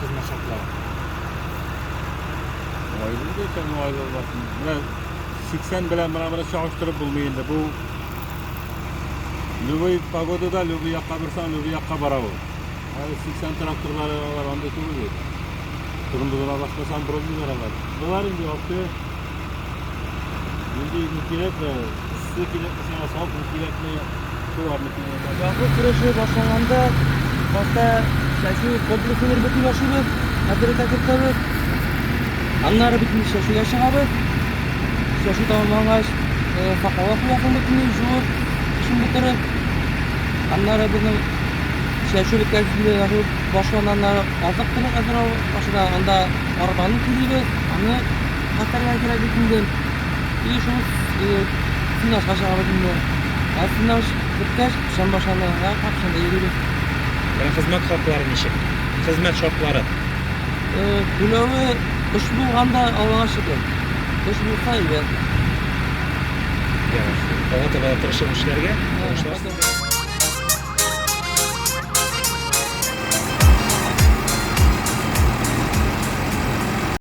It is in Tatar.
кызмачакла. Айлы да икән, айлы да. Менә 80 белән менә моны чагыштырып булмый инде. Бу любой погодада любой якка борсаң, любой якка бара ул. Әле 80 тракторлары алар анда түгел бит. Кырмызыла башласаң, бронзалар алар. Болар инде ярты Инде не кирәкме, эссе кирәкме сиңа, салкын кирәкме, шуларны кирәкме. Язгы көрәше башланганда башта чәчү комплексын бер бөтен ашыйбыз, хәтере тәкертәбез. Аннары бөтен чәчүгә чыгабыз. Чәчү тамамлангач, факала куясың бөтен җуып, эшен бетереп. Аннары безнең чәчү беткән башланганнары азык-төлек әзер ашыга, анда арбаны килибез, аны Катарга кирәк бит инде. И шул сунашка чыгабыз инде. Ә сунаш беткәч, Чамбашаны рәхәт шунда йөрибез. Ә хезмәт хаклары ничек? Хезмәт шартлары? Түләве эш булганда Аллага шөкер. Эш булса иде. Яхшы. Алга таба да тырышып эшләргә.